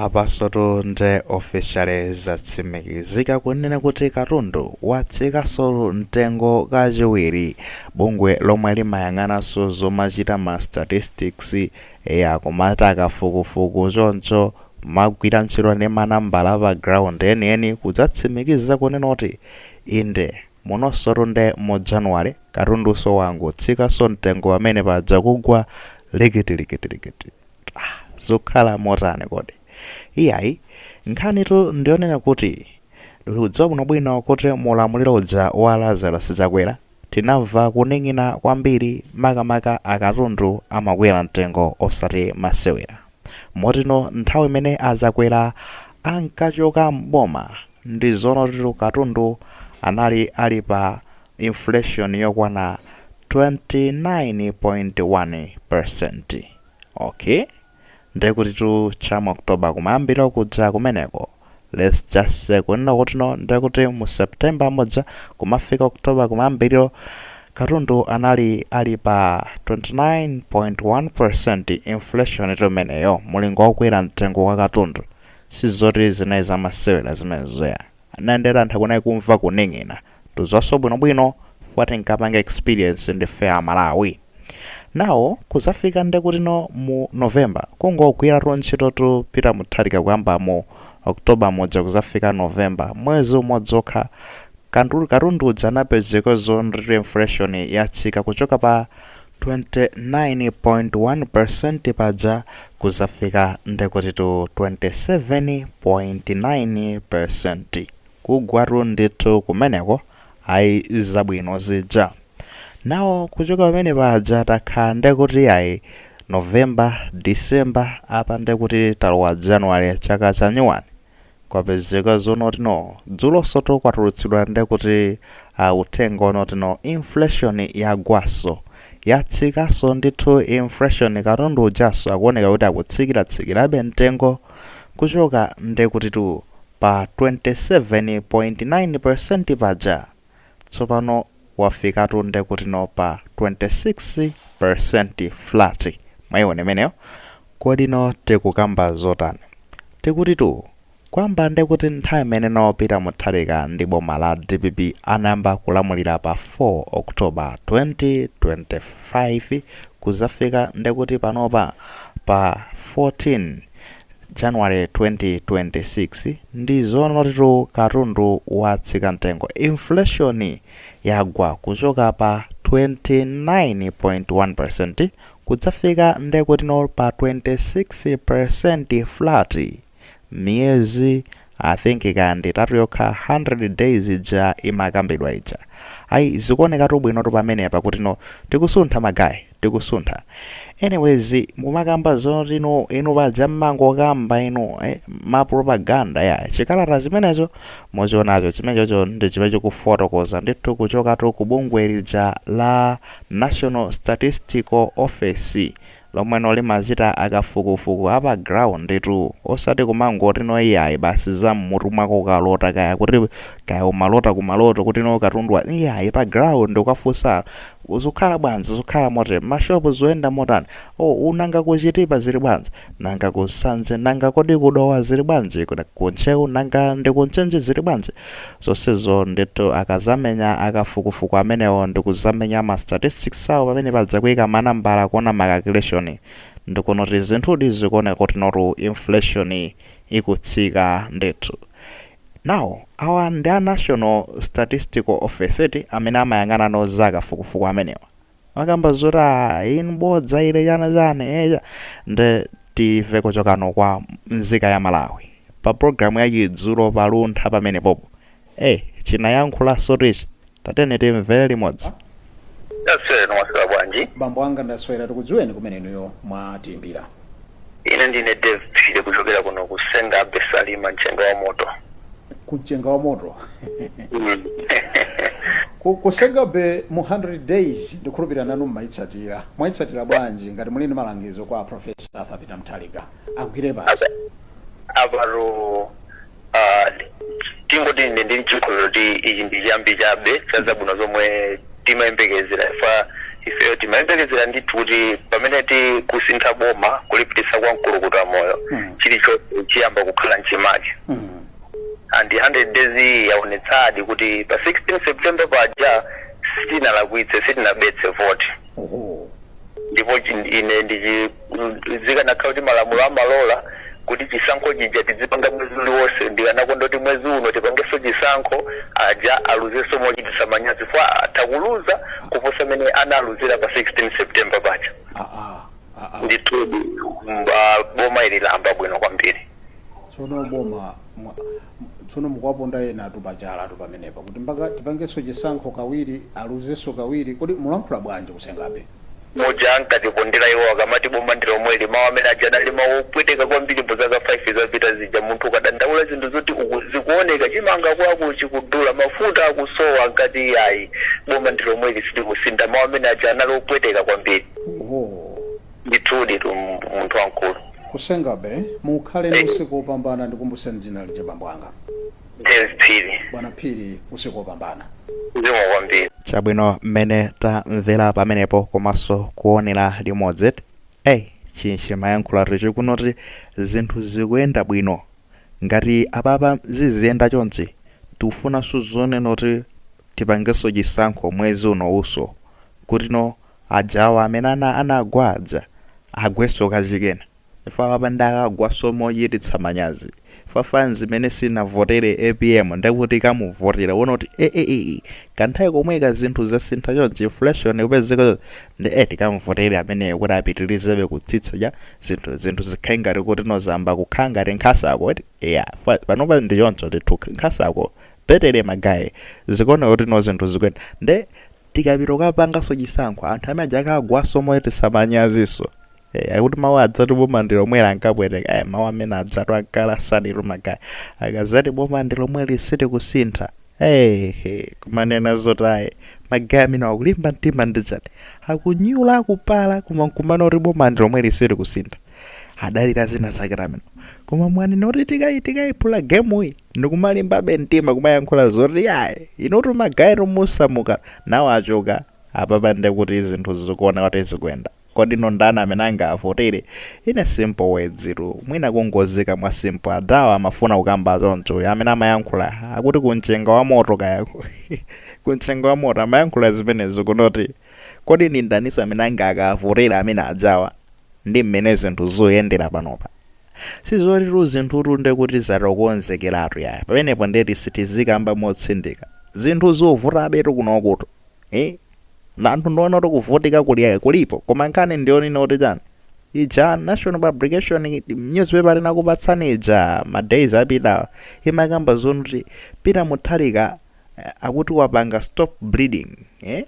Apansotu nde officially zatsimikizika kunena kuti katundu watsikaso mtengo kachiwiri. Bungwe lomwe limayang'anaso zomachita ma statistics ya kumachita kafukufuku choncho kumagwira ntchito ndi manambala pa ground enieni kudzatsimikiza kunena kuti inde munosotu nde mu January katunduso wangotsikaso mtengo pamene paja kugwa likitilikitilikiti. Ah, zukhala motani kodi? Iyayi, nkhanitu ndiyonena kuti tikudziwa bwinobwino kuti mu ulamuliro uja wa Lazarus Chakwera tinamva kuning'ina kwambiri makamaka katundu amakwera mtengo osati masewera. Moti no nthawi imene a Chakwera ankachoka m'boma ndi zonotitu katundu anali ali pa inflation yokwana 29.1%. Ok ndekutitu cha mu October kumayambiriro kuja kumeneko let's just say kunena kuti no ndekuti mu September muja kumafika October kumayambiriro katundu anali ali pa 29.1% inflation itu imeneyo mulingo wa kukwera mtengo kwa katundu sizoti zinali zamasewera zimenezoya Nanga ndetu anthu akunayi kumva kuning'ina. Tudziwaso bwino bwino fukwa tinkapanga experience ndi fe a Malawi. Now kuzafika ndekuti no mu November kungogwiratu ntchitotu Peter Mutharika kuyamba mu October muja kuzafika November mwezi umodzi okha katundu uja anapezeka zonotitu inflation yatsika kuchoka pa 29.1% paja kuzafika ndekutitu 27.9% kugwatu ndithu kumeneko ayi zabwino zija now kuchoka pamene paja takhala ndekuti ayi november december apa ndekuti talowa january chaka chanyuwani Kwapezeka zonoti no dzulosotu kwatulutsidwa ndekuti uthenga onoti no inflation yagwaso, yatsikaso ndithu inflation katundu ujaso akuoneka kuti akutsikira tsikirabe mtengo kuchoka ndekutitu pa 27.9% paja. tsopano wafikatu ndekuti no pa 26% flat mwaiona imeneyo kodi no tikukamba zotani tikutitu kuyamba ndekuti nthawi imene no peter mutharika ndi boma la dpp anayamba kulamulira pa 4 october 2025 kuzafika ndekuti panopa pa 14 January 2026 ndizoonottu katundu watsika mtengo inflation yagwa kuchoka pa 29.1% kudzafika ndekutino pa 26% flat miyezi I think kaya ndiitatu yokha 100 days ija imakambidwa ija ayi zikuonekatu bwinotu pamenepa kutino tikusuntha ma guy. tikusuntha anyways mumakamba zoti no inu paja mmangokamba inu eh, ma propaganda ya chikalata chimenecho muchionacho chimenechocho ndi chimene chikufotokoza ndithu kuchokatu ku bungwe lija la national statistical office lomwe limachita akafukufuku apa ground tu osati kumangoti no iyayi basi za mmutu mwako ukalota kaya kuti kaya umalota kumaloto kuti no katundu iyayi pa ground ukafunsa Zukhala bwanji, zukhala motele. Ma shop zuyenda motani? Oh, uh, nanga ku Chitipa zili bwanji? Nanga ku Nsanje? Nanga kodi ku Dowa zili bwanji? Ku Ntcheu? Nanga ndi ku Mchinji zili bwanji? Zonsezo ndithu akazamenya akafukufuku amenewo ndikuzamenya ma statistics awo pamenepaja kuika ma nambala kuona ma calculation ndikuona kuti zinthudi zikuoneka kuti notu inflation ikutsika ndithu. Now awa ndi a National Statistical Office eti amene amayang'ana no za kafukufuku amenewa. Makamba zoti a inu bodza ile chana chani eh cha. Nde timve kuchokano kwa nzika ya Malawi. Pa program ya chidzulo pa luntha pamene popo. Eh chinayankhula sotichi. Tatiyeni timvere limodzi. Taswera mwaswera bwanji? bambo anga ndaswera tikudziweni kumene inuyo mwatiimbira Ine ndine Dave Phiri kuchokera kuno ku Senga Bay Salima mchenga wa moto. ku mchenga wa moto Ku- ku Senga Bay mu 100 days ndikhulupirira nanu mmayitsatira mwayitsatira bwanji ngati muli ndi malangizo kwa profesa arthur peter mutharika agwire basi Apa- Aparo Ah, tingoti ine ndili ndi chikhulupiriro kuti ichi ndi chiyambi chabe cha zabwino zomwe timayembekezera ifa ifeyo timayembekezera ndithu kuti pamene tikusintha boma kulipitisa kwa mkulukuta moyo Mm. chilichonse chiyamba kukhala mchimake Mm. and 100 days iyi yaonetsadi kuti pa 16 september paja sitinalakwitse sitinabetse vote Oho. ndipo chi- ine ndichi zikanakhala kuti malamulo amalola kuti chisankho chija tidzipanga mwezi uliwonse ndikanakonda kuti mwezi uno tipangenso chisankho aja aluzenso mochititsa manyazi chifukwa atha kuluza kuposa mmene analuzira pa 16 september paja Ah, ah, ah, ah. ndithudi mba- boma ili layamba bwino kwambiri tsono boma mwa- m- tsono mukuwaponda enatu pachalatu pamenepa kuti mpaka tipangenso chisankho kawiri aluzenso kawiri kodi mulankhula bwanji ku Senga Bay muja ankatipondera iwo akamati boma ndi lomweli mawu amene aja anali mawu opweteka kwambiri mu zaka 5 zapita zija munthu ukadandaula zinthu zoti zikuoneka chimanga kwako chikudula mafuta akusowa ankati iyayi boma ndi lomweli silikusintha mawu amene aja anali opweteka kwambiri oh. ndithudi tu m- munthu wamkulu kusenzabe mukhale ndi usiku wopambana ndikumbuseni dzina lija bambo anga James Phiri bwana phiri usiku wopambana zikomo kwambiri chabwino mmene tamvera pamenepo komanso kuonera limodzi eyi chimene chimayankhula ndicho kunoti zinthu zikuyenda bwino ngati apapa ziziyenda chonchi tikufunanso zonena kuti tipangenso chisankho mwezi uno unso kutino ajawa amene ana anagwa aja agwenso kachikenanso Ife apapa nde akagwaso mochititsa manyazi mafans imene sinavotere apm ndekuti ikamuvotera iwona kuti AAA kanthawi komweka zinthu zasintha chonchi inflation ikupezeka chonchi nde eh tikamuvotere ameneyo kuti apitirizebe kutsitsa ja zinthu zinthu zikhale ngati kuti no zayamba kukhala ngati nkhasako eti yeah ife panopa ndi choncho ndithu nkhasako petere magaye zikuoneka kuti no zinthu zikuyenda nde tikapita kukapanganso chisankho anthu amene aja akagwaso mochititsa manyaziso Eh, akuti mawu ajatu boma ndi lomweli ankapweteka eh, mawu amene ajatu ankalasa ndithu magaye akamati boma ndi lomweli sitikusintha ehe kumanena zoti aye magaye amene akulimba mtima ndidzati akunyula akupala koma nkumana kuti boma ndi lomweli sitikusintha adalira zina zake amwene koma mwanena kuti tikayi tikayiphula gemuyi ndikumalimbabe mtima kumayankhula zoti ayi inutu magaye tumusamuka nawo achoka apapa ndekuti zinthu zikuoneka kuti zikuyenda Kodi no ndani amene angavotere? Ine simple words tu. Mwina kungoziika mwa simple. Adawa amafuna kukamba choncho. Uyu amene amayankhula akuti ku mchenga wa moto kaya. ku mchenga wa moto amayankhula zimenezo kunoti. Kodi ndi ndaniso amene angakavotere amene ajawa? Ndi mmene zinthu zikuyendera panopa. Sizoti tu zinthu tu nde kuti zatokonzekeratu yaya. Pamenepo ndeti sitizikamba motsindika. Zinthu zovutabe tu kunokutu. eh na anthu ndiona kuti kuvutika kuli kulipo koma nkhani ndi yonena kuti chani ija national publication newspaper ndinakupatsani ija ma days apitawa imakamba zoti kuti peter mutharika eh, akuti wapanga stop bleeding eh?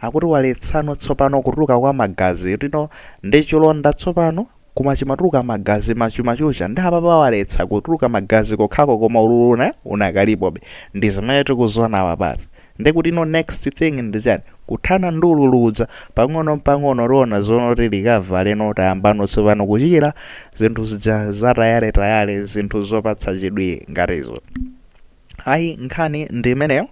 akuti waletsano tsopano kutuluka kwa magazi tili ndi chilonda tsopano koma chimatuluka magazi machumachucha nde apapa waletsa kutuluka magazi kokhako koma ululu uja unakalipobe ndizimene tikuziona apapazi nde kutino next thing ndi chani kuthana ndi ululu uja pang'ono mpang'ono tiona zonoti likavale no tayambano tsopano kuchira zinthu zija zatayaletayale zinthu zopatsa chidwi ngati izo ayi nkhani ndi imeneyo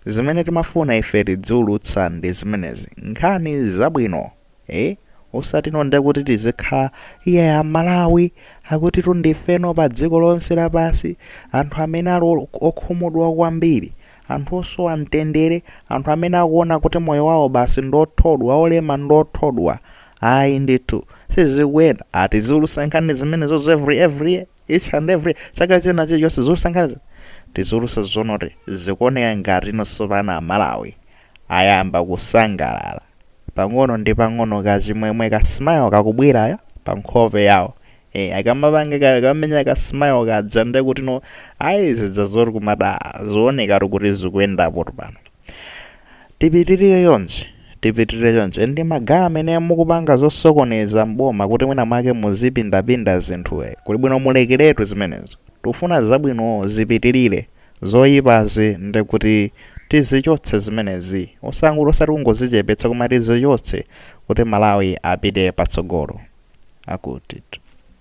zimene timafuna ife tidziulutsa ndi zimenezi nkhani zabwino Eh osatino ndekuti tizikhala iyayi amalawi akutitu ndifeno pa dziko lonse lapansi anthu amene ali okhumudwa kwambiri anthu osowa mtendere anthu amene akuona kuti moyo wawo basi ndiothodwa olema ndothodwa ayi ndithu sizikuyenda tiziulutsa nkhani zimenezo every every year each and every chaka china chilichonse ziulutsa nkhanizo tiziulutsa zonoti zikuoneka ngati no tsopano amalawi ayamba kusangalala pang'ono ndi pang'ono kachimwemwe ka smile kakubwera pa nkhope yawo e, akamapanga ka- kamenya ka smile kaja ndekuti no ayi zija zoti kumada zaoneka kuti zikuyendapo pano tipitirire chonchi tipitirire chonchi nde magaye amene mukupanga zosokoneza mboma kuti mwina mwake muzipindapinda zinthu eh, kuli bwino mulekeretu zimenezo tufuna zabwino zipitirire zoyipazi ndi kuti tizichotse zimenezi osangoti osati kungozichepetsa koma tizichotse kuti malawi apite patsogolo akuti